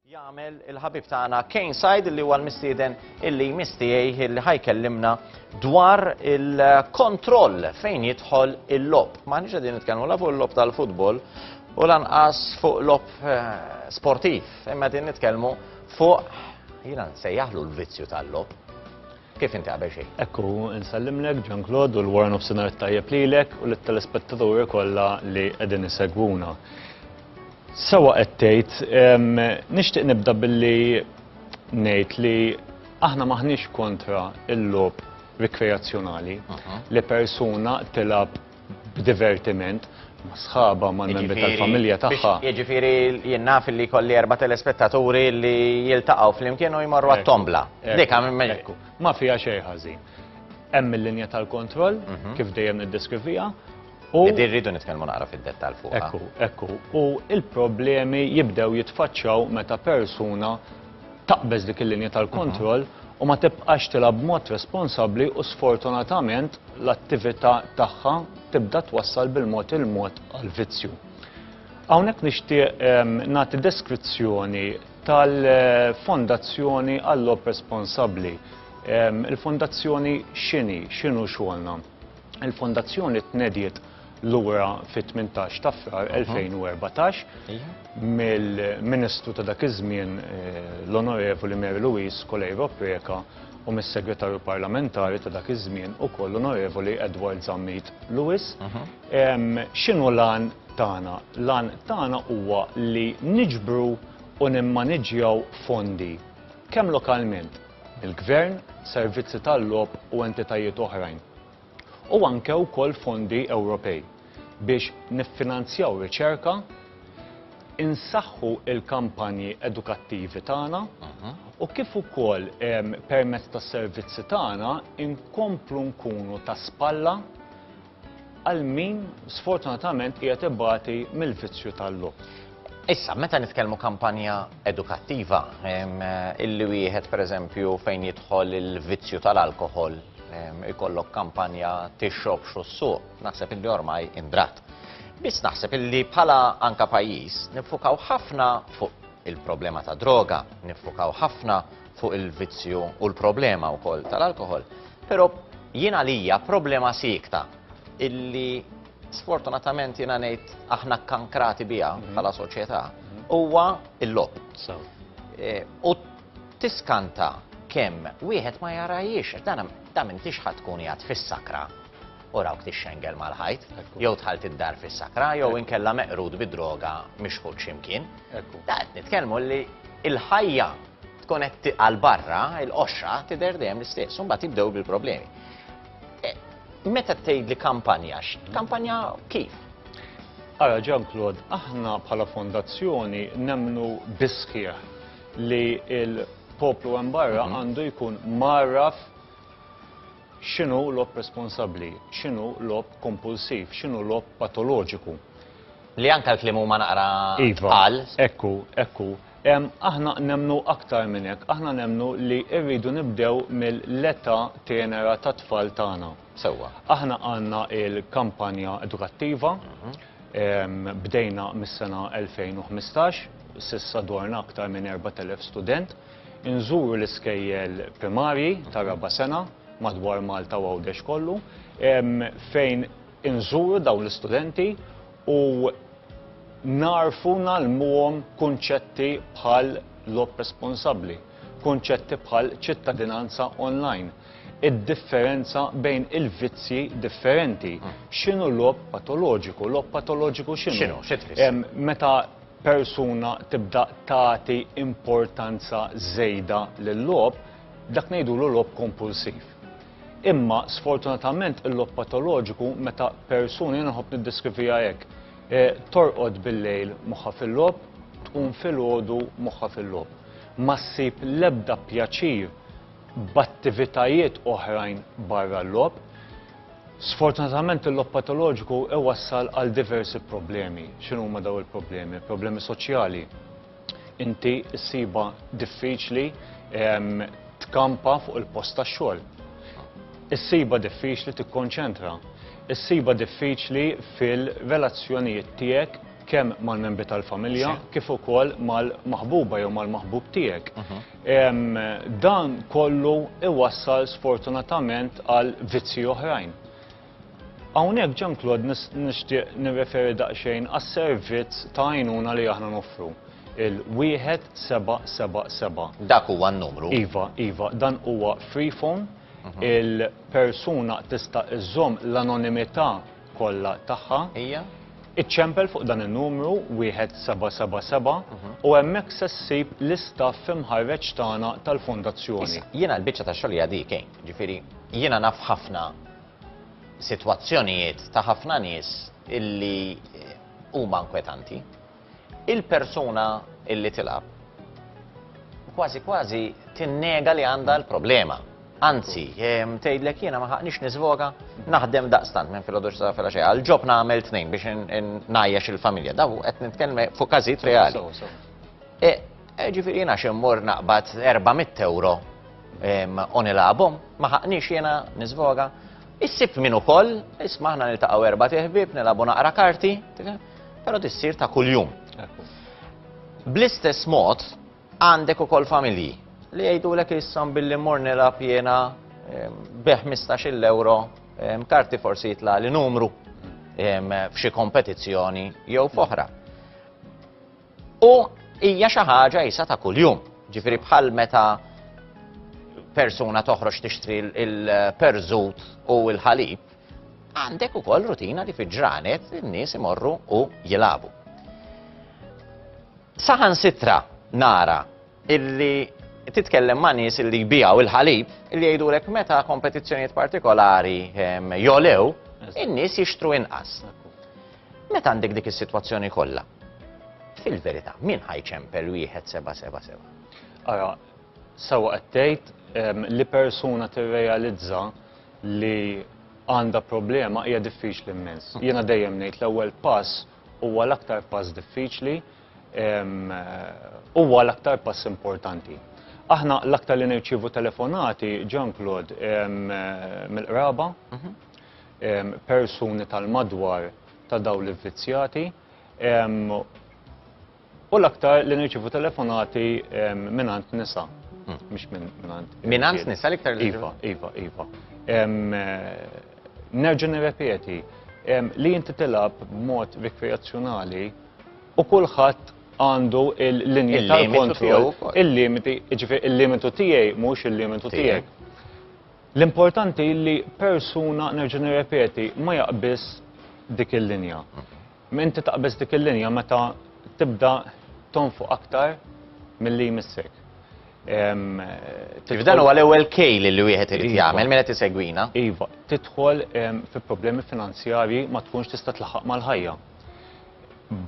jagħmel il-ħabib tagħna Kane Said li huwa l-mistieden illi mistijej illi ħajkellimna dwar il-kontroll fejn jidħol il-lob. Ma nix qegħdin nitkellmu la fuq il-lob tal-futbol u lanqas fuq lob eh, sportiv, imma qegħdin nitkellmu fuq jiena nsejjaħlu l-vizzju tal-lob. Kif inti qabel xejn? Hekk hu, insellimlek Jean Claude u l-wara nofsinhar it-tajjeb lilek u lit-telespettaturi kollha li qegħdin isegwuna. Sewwa qed tgħid, nixtieq nibda billi ngħid li aħna maħniex kontra l-logħob rikreazzjonali li persuna tilgħab b'divertiment ma' sħaba ma' membri tal-familja tagħha. Jiġifieri jien naf li kolli erba' telespettaturi li jiltaqgħu flimkien u jmorru għat-tombla. Dik hekku. Ma fiha xejn ħażin. Hemm il-linja tal-kontroll mhm. kif dejjem niddeskriviha. U din rridu nitkellmu naqra fid-dettall fuq. Ekku, ekku. U il-problemi jibdew jitfaċċaw meta persuna taqbeż dik il-linja tal-kontroll u ma tibqax tilgħab b'mod responsabbli u sfortunatament l-attività tagħha tibda twassal bil-mod il-mod għal vizzju. Hawnhekk nixtieq ehm, nagħti deskrizzjoni tal-Fondazzjoni għall-Lob Responsabbli. Ehm, Il-Fondazzjoni x'inhi, x'inhu xogħolna? Il-Fondazzjoni tnediet lura fit-18 ta' Frar 2014 mill-Ministru ta' dak iż-żmien l-Onorevoli Mary Louise Coleiro Preca u mis-Segretarju Parlamentari ta' dak iż-żmien ukoll l-Onorevoli Edward Zammit Lewis. X'inhu l-għan tagħna? L-għan tagħna huwa li niġbru u nimmaniġġjaw fondi kemm lokalment mill-Gvern, servizzi tal-logħob u entitajiet oħrajn. u anke wkoll fondi Ewropej biex niffinanzjaw riċerka, insaħħu l-kampanji edukattivi tagħna u kif ukoll permezz tas-servizzi tagħna nkomplu nkunu ta' spalla għal min sfortunatament qiegħed ibati mill-vizzju tal-logħob. Issa, meta nitkellmu kampanja edukattiva, illi wieħed pereżempju fejn jidħol il-vizzju tal-alkohol, ikollok kampanja tixrob xu s-suq, naħseb illi ormai indrat. Biss naħseb illi bħala anka pajjiż nifukaw ħafna fuq il-problema ta' droga, nifukaw ħafna fuq il-vizzju u l-problema wkoll tal-alkohol, però jien għalija problema siekta illi sfortunatament jiena ngħid aħna kkankrati biha mhm. bħala soċjetà, mhm. huwa l-lob. E, u tiskanta kemm wieħed ma jarajiex, dan ta' minn tixħat tkun jgħad fis-sakra u rawk tixxengel mal-ħajt, jew tħalt id-dar fis-sakra, jew inkella meqrud bid-droga mixħud ximkien. Da qed nitkellmu li il-ħajja tkun qed għal barra, il-qoxra tidher dejjem l-istess, u mbagħad jibdew bil-problemi. Meta tgħidli kampanja, kampanja kif? Ara Jean Claude, aħna bħala fondazzjoni nemnu bisħieħ li il-poplu hemm barra mhm. għandu jkun marraf x'inhu lob responsabbli, x'inhu lob kompulsiv, x'inhu lob patoloġiku. Li anka l-klim huma naqra iva, tqal. Ekku, ekku. Aħna nemmnu aktar minn hekk, aħna nemmnu li rridu nibdew mill-età tenera tat-tfal tagħna. Sewwa. Aħna għandna l-kampanja edukattiva, bdejna mis-sena 2015, s'issa dwarna aktar minn 4,000 student, inżuru l-iskejjel primarji tar-raba' sena madwar Malta u Għawdex kollu, fejn inżuru dawn l-istudenti, u nagħrfu ngħallmuhom kunċetti bħal logħob responsabbli, kunċetti bħal ċittadinanza online, id-differenza bejn il-vizzji differenti, mm. x'inhu logħob patoloġiku, logħob patoloġiku x'inhu? Meta persuna tibda tagħti importanza żejda lil logħob, dak ngħidulu logħob kompulsiv. Imma sfortunatament il-logħob patoloġiku meta persuna, jiena nħobb niddeskriviha hekk, eh, torqod bil-lejl moħħha fil-logħob, tqum filgħodu moħħha fil-logħob. Ma ssib l-ebda pjaċir b'attivitajiet oħrajn barra l-logħob. Sfortunatament il-logħob patoloġiku iwassal għal diversi problemi. X'inhuma dawn il-problemi? Problemi soċjali, inti ssibha diffiċli tkampa fuq il-post tax-xogħol. Issibha diffiċli tikkonċentra. Issibha diffiċli fil-relazzjonijiet tiegħek kemm mal-membri tal-familja kif ukoll mal-maħbuba jew mal-maħbub tiegħek. Dan kollu iwassal sfortunatament għal vizzi oħrajn. Hawnhekk Jean-Claude nixtieq nirreferi daqsxejn għas-servizz ta' għajnuna li aħna noffru, il-1777. Dak huwa n-numru? Iva, iva, dan huwa free phone, mhm. il-persuna tista' iżżomm l-anonimità kollha tagħha. Hija? Iċċempel fuq dan in-numru 1777 mhm. u hemmhekk se ssib l-istaff imħarreġ tagħna tal-fondazzjoni. Jiena l-biċċa ta' xogħol hija dik, eh? Ġifieri jiena naf ħafna sitwazzjonijiet ta' ħafna nies illi huma inkwetanti. Il-persuna illi tilgħab kważi kważi tinnega li għandha l-problema. Anzi, ehm, tgħidlek jiena ma ħaqniex niżvoga, naħdem daqstant minn filgħodu sa filgħa xejn. Għal-ġob nagħmel tnejn biex ngħajjax il-familja. Daw qed nitkellem fuq każijiet reali. E, Eh, ġifiri jena xemmur naqbad 400 euro u nilabom, maħaqni jena nizvoga. Issib minn ukoll, isma ħna niltaqgħu erba' tiħbib, nilabu naqra karti, però tissir ta' kuljum. Bl-istess mod għandek ukoll familji li jgħidulek issam billi mor nilab jena bi 15 euro karti forsi jitla li numru f'xi kompetizzjoni jew f'oħra. U hija xi ħaġa jisa ta' kuljum. Ġifieri bħal meta persuna toħroġ tixtri il-perżut u l-ħalib, għandek ukoll rutina li fiġranet in-nies imorru u jilabu. Saħan sitra nara illi titkellem ma' nies illi jbijaw il-ħalib illi jgħidulek meta kompetizzjonijiet partikolari ehm, jolew, in-nies jixtru inqas. Meta għandek dik is-sitwazzjoni kollha, fil-verità, min ħa jċempel wieħed seba' seba' seba'? Ara, sewwa qed tgħid ehm, li persuna tirrealizza li għandha problema hija diffiċli immens. Mm. Jiena dejjem ngħid l-ewwel pass huwa l-aktar pass diffiċli ehm, huwa l-aktar pass importanti. Aħna l-aktar li nirċivu telefonati, Jean-Claude, mill-qraba, mhm. persuni tal-madwar ta' dawn l-ivvizzjati u l-aktar li nirċievu telefonati mingħand nisa, mhux mingħand. Mingħand nisa l-iktar li Iva, iva, iva. Nerġa' nirrepeti li inti tilgħab b'mod rikreazzjonali u kulħadd għandu l-linji tal-kontroll, il-limiti, jiġifieri l-limitu tiegħi mhux il-limitu tiegħek. L-importanti li persuna, nerġa' nirrepeti, ma jaqbiż dik il-linja. Inti taqbeż dik il-linja meta tibda tonfoq aktar milli jmissek. Dan huwa l-ewwel kejl li wieħed irid iva. jagħmel minn qed isegwina. Iva, tidħol fi problemi finanzjarji ma tkunx tista' tlaħaq mal-ħajja.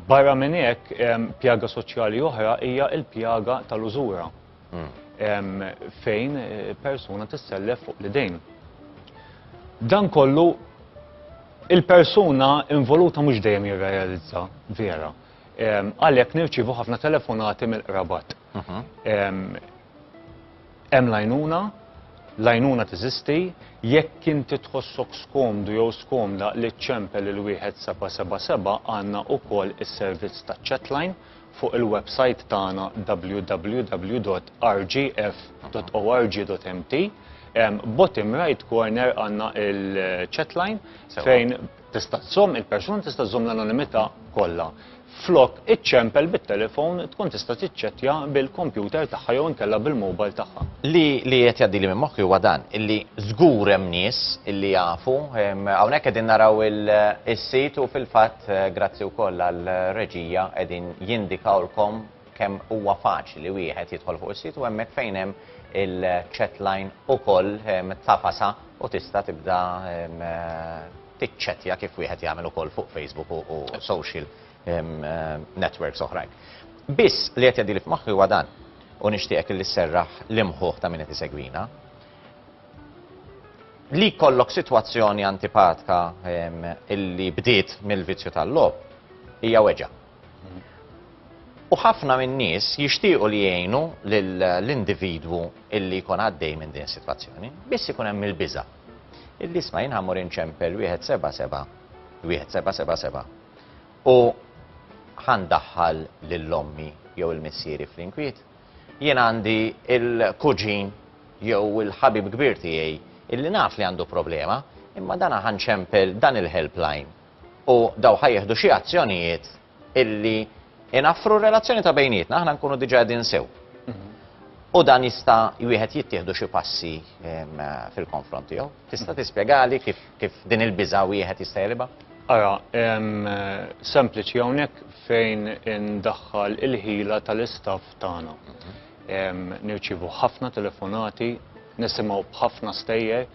Barra minn hekk, pjaga soċjali oħra hija l-pjaga tal-użura. fejn persuna tissellef fuq l-idejn. Dan kollu il-persuna involuta mhux dejjem jirrealizza vera. Għalhekk nirċievu ħafna telefonati mill-qrabat. Hemm lajnuna, lajnuna teżisti, jekk inti tħossok skomdu jew skomda li ċċempel il-wieħed seba' seba' seba' għandna wkoll is-servizz taċ-chatline. Fuq il-websajt tagħna www.rgf.org.mt, bottom right corner għandna il-chat line fejn tista' żżomm il-persuna tista' żżomm l-anonimità kollha. Flok iċċempel bit-telefon tkun tista' tiċċettja bil-kompjuter tagħha jew inkella bil-mobile tagħha. Li li qed jgħaddili minn moħħi huwa dan, illi żgur hemm nies illi jafu, hawnhekk qegħdin naraw il-sit u fil-fatt, Grazzi wkoll għar-reġija qegħdin jindikawlkom kemm huwa faċli wieħed jidħol fuq is-sit u hemmhekk fejn hemm il-chat line ukoll tafasa u tista' tibda tiċċettja kif wieħed jagħmel ukoll fuq Facebook u social networks oħrajn. Biss li qed jgħaddili f'moħħi huwa dan u nixtieqek li sserraħ l-imħuħ ta' min qed isegwina. Li jkollok sitwazzjoni antipatka illi bdiet mill-vizzju tal-logħob hija weġgħa. U ħafna min-nies jixtiequ li jgħinu lill-individwu illi jkun għaddej minn din is-sitwazzjoni, biss ikun hemm il-biża' illi isma' jien ħa mmur inċempel wieħed seba' seba', wieħed seba' seba' seba' u ħa ndaħħal lil ommi jew il-missieri fl-inkwiet. Jien għandi l-kuġin jew il-ħabib kbir tiegħi illi naf li għandu problema, imma dan ħa nċempel dan il-helpline u daw ħa jieħdu xi azzjonijiet illi inaffru r-relazzjoni ta' bejnietna, aħna nkunu diġà qegħdin sew. U dan jista' wieħed jittieħdu xi passi fil-konfront tiegħu. Tista' tispjegali kif Kif din il-biża' wieħed jista' jegħlibha? Ara, hemm sempliċi hawnhekk fejn indaħħal il-ħila tal-istaff tagħna. Nirċievu ħafna telefonati, nisimgħu b'ħafna stejjer,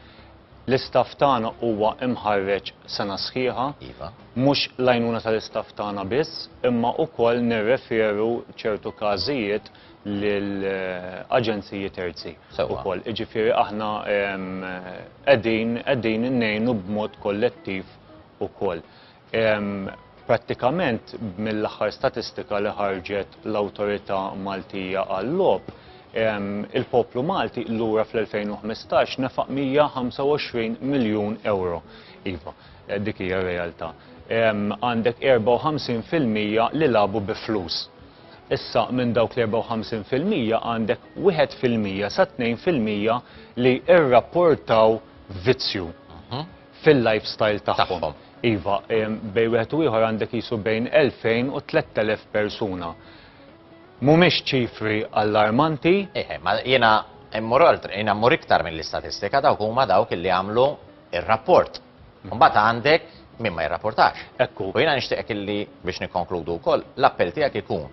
L-istaff tagħna huwa imħarreġ sena sħiħa, iva. mhux l-għajnuna tal-istaff tagħna biss, imma wkoll nirreferu ċertu każijiet lil aġenziji terzi wkoll. Jiġifieri aħna qegħdin qegħdin ngħinu b'mod kollettiv ukoll. Prattikament mill-aħħar statistika li ħarġet l-Awtorità Maltija għal-Logħob, il-poplu Malti lura fl-2015 nefaq 125 miljun ewro. Iva, dik hija r-realtà. Għandek 54 fil-mija li lagħbu bi flus. Issa minn dawk l-54 fil-mija għandek wieħed fil-mija sa tnejn fil-mija li rrapportaw vizzju fil-lifestyle tagħhom. Iva, bejn wieħed u ieħor għandek qisu bejn 2,000 u 3,000 persuna. Mhumiex ċifri allarmanti. Eħe, ma jiena immur oltre, jiena mmur iktar mill-istatistika dawk huma dawk li għamlu r-rapport. Mbagħad għandek min ma jirrapportax. Ekku. U jiena nixtieqek illi biex nikkonkludu wkoll, l-appell tiegħek ikun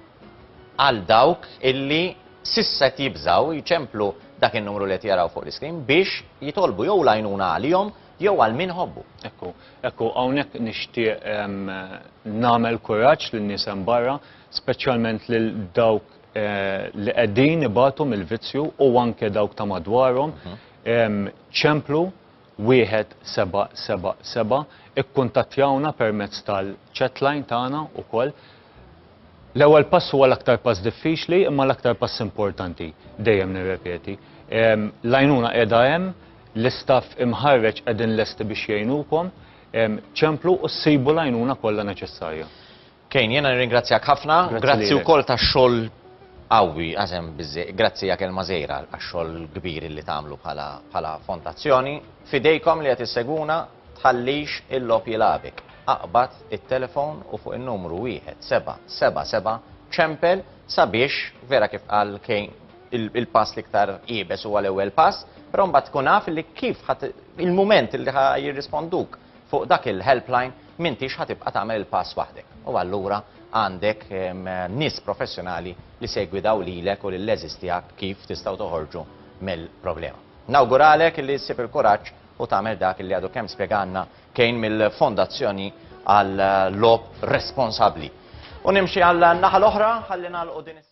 għal dawk illi s'issa qed jibżgħu jċemplu dak in-numru li qed jaraw fuq l-iskrin biex jitolbu jew l-għajnuna għalihom jew għal min ħobbu. Ekku, ekku, hawnhekk nixtieq ehm, nagħmel kuraġġ lin-nies hemm barra, speċjalment lil dawk eh, li qegħdin ibatu mill-vizzju u anke dawk ta' madwarhom, mhm. ehm, ċemplu 1777 Ikkuntattjawna permezz tal-chatline tagħna wkoll. L-ewwel pass huwa l-aktar pass diffiċli imma l-aktar pass importanti, dejjem nirrepeti. L-għajnuna qiegħda hemm, l-istaff imħarreġ qegħdin lesti biex jgħinukom. Ċemplu u ssibu l-għajnuna kollha neċessarja. Kane, jiena nirringrazzjak ħafna, grazzi wkoll tax-xogħol qawwi, għażem biżżejjed, grazzi ja kelma żgħira għax-xogħol kbir li tagħmlu bħala fondazzjoni. F'idejkom li qed issegwuna, tħallix il-logħob jilgħabek. Aqbad it-telefon u fuq in-numru 1777 ċempel sabiex, vera kif qal Kane, il-pass l-iktar iebes huwa l-ewwel pass, però mbagħad tkun naf li kif il-mument li jirrisponduk Fuq dak il-helpline m'intix ħa tibqa' tagħmel il-pass waħdek u allura għandek nies professjonali li se jgwidaw lilek u lill-għeżież tiegħek kif tistgħu toħorġu mill-problema. Nawguralek li ssib il-kuraġġ u tagħmel dak li għadu kemm spjegalna Kane mill-Fondazzjoni għal Logħob Responsabbli. U nimxi għan-naħa l-oħra ħalli nagħlqu din is